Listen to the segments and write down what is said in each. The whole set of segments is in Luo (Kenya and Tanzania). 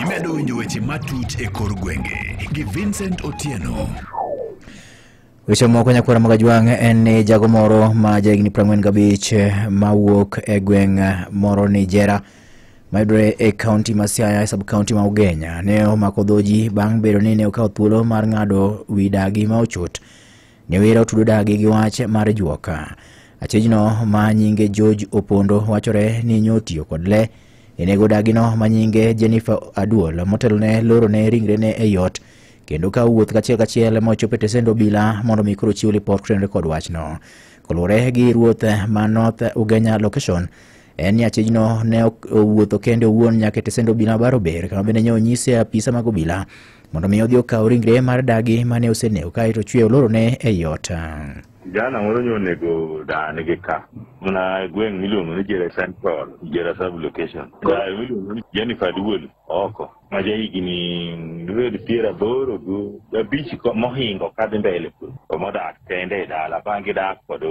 Imedo winjo weche matut e kor gwenge gi Vincent Otieno. Weche moko nyakwara mag Ajwang' en ni jago moro ma jahigni 45 mawuok e gweng' moro Nijera mayudore e kaunti ma Siaya e sub-kaunti ma Ugenya ne omako dhoji bang' bedo ni ne okawo thuolo mar ng'ado wi dagi ma ochot Nyawera otudo dagi gi wach mar juoka. Achijno ma nyinge George Opondo wachore ni nyotiyo kod le. Enego dagino ma nyinge Jennifer Aduol motelone loro ne ringre ne e yot kendo ka wuoth kachiel kachiel ma ochopo e tesend obila mondo mi koro chiw lipot kotrenre kod wachno. Koluwore gi ruoth ma North Ugenya Location, en ni achijno ne owuotho kende owuon nyaka e tesend obila baro ber kama bende nyo onyise apisa mag obila mondo mi odhi okaw ringre mar dagi mane osenego kae to chwe olorone e yot jana moro nyo onego dani gi ka mna gweng' miluongo ni jere central jere sub location miluongo ni jennifer duol oko ma ja higni dibed piero aboro gi abich ko- mohingo kadhi mbele kuno to modak kende e dala bang' gidak kod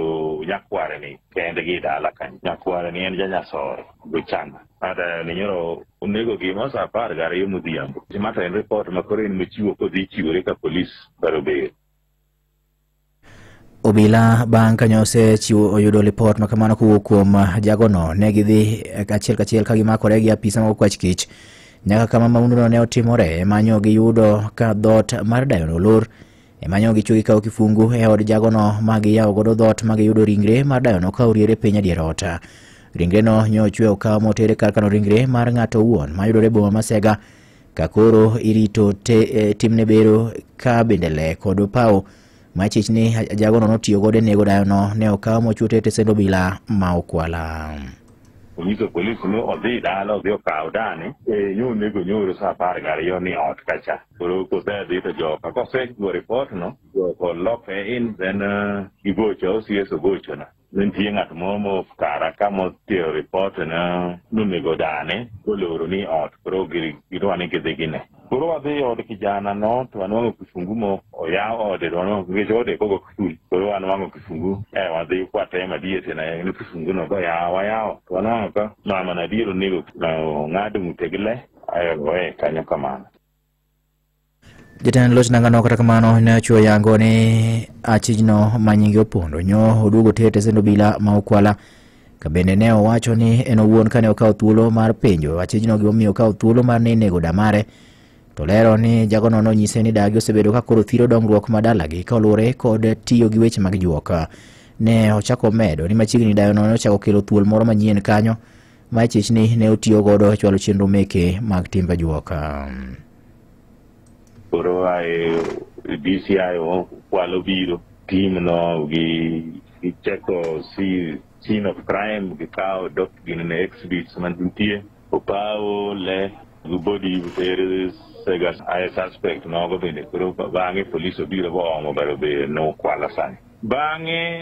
nyakware ni kendgi e dala kanyo nyakware ni en janyasore gochana kata ni nyoro onego gima sa apar gariyo modhiambo mato en ripot ma koro en mochiwo kodhi chiwore ka polis baro beyo Obila bang' ka nyose chiwo oyudo lipot ma kamano kowuok kuom jagono ne gidhi achiel kachiel ka gimakore gi apisa mag kwach kich nyaka kama maunduno ne otimore emanyo giyudo ka dhoot mar dayono olor emanyo gichwe gikawo kifungu e od jagono ma giyawo godo dhoot ma giyudo ringre mar dayono ka oriere piny adier ot ringreno nyo ochwe okaw motere kar kano ringre mar ng'ato owuon mayudore e boma ma Sega Ka koro irito te, eh, timne bero ka bende le kod opawo ma chich ni ajagono notiyo godo e nego dayono ne okaw mochute e tesend obila ma Okwala. onyiso polis ni odhi dala odhi okaw dani e yo nego nyoro sa apar gariyo ni ot kacha koro kosedhi to joka kosego ripot no joka oloke in then uh, igocha osies ogochona ne nitie ng'at moro mo kara ka motero ripot ne nonego dane koloro ni ot koro gi- gidwa ni gidhi gine koro wadhi e od kijana no to wanwang'o kifungu mo oyaw ode to wanwang'o nikech ode kogo kiful koro wanwang'o kifungu e wadhi kwateye madier tena ni kifungu no goyaw wayawo to wanwang'o ka mama nadier onego na ong'ad ng'ute gi le ayo ogoye kanyo kamano Jatend loch nangano kata kamano ne ochuo yango ni achijno ma nyinge opondo nyo oduogo ter tesend obila ma okwala ka bende ne owacho ni en owuon kane okawo thuolo mar penjo achijno gimomiyo okawo thuolo mar ni nego damare to lero ni jagono nonyise ni dagi osebedo ka koro thiro dongruok ma dalagi kaluwore kod tiyo gi weche mag juok ne ochako medo ni machiegni dayono ne ochako kelo thuol moro manyien kanyo ma chechni ne otiyo godo e chwalo chenro meke mag timbe juoka. Koro ae DCI kwalo biro tim no gi gicheko si scene of crime gikawo dok gin ne exhibits mantie opawo le gi body there is sega I suspect nogo bende koro bang'e police obiro boomo baro be nokwala sani bang'e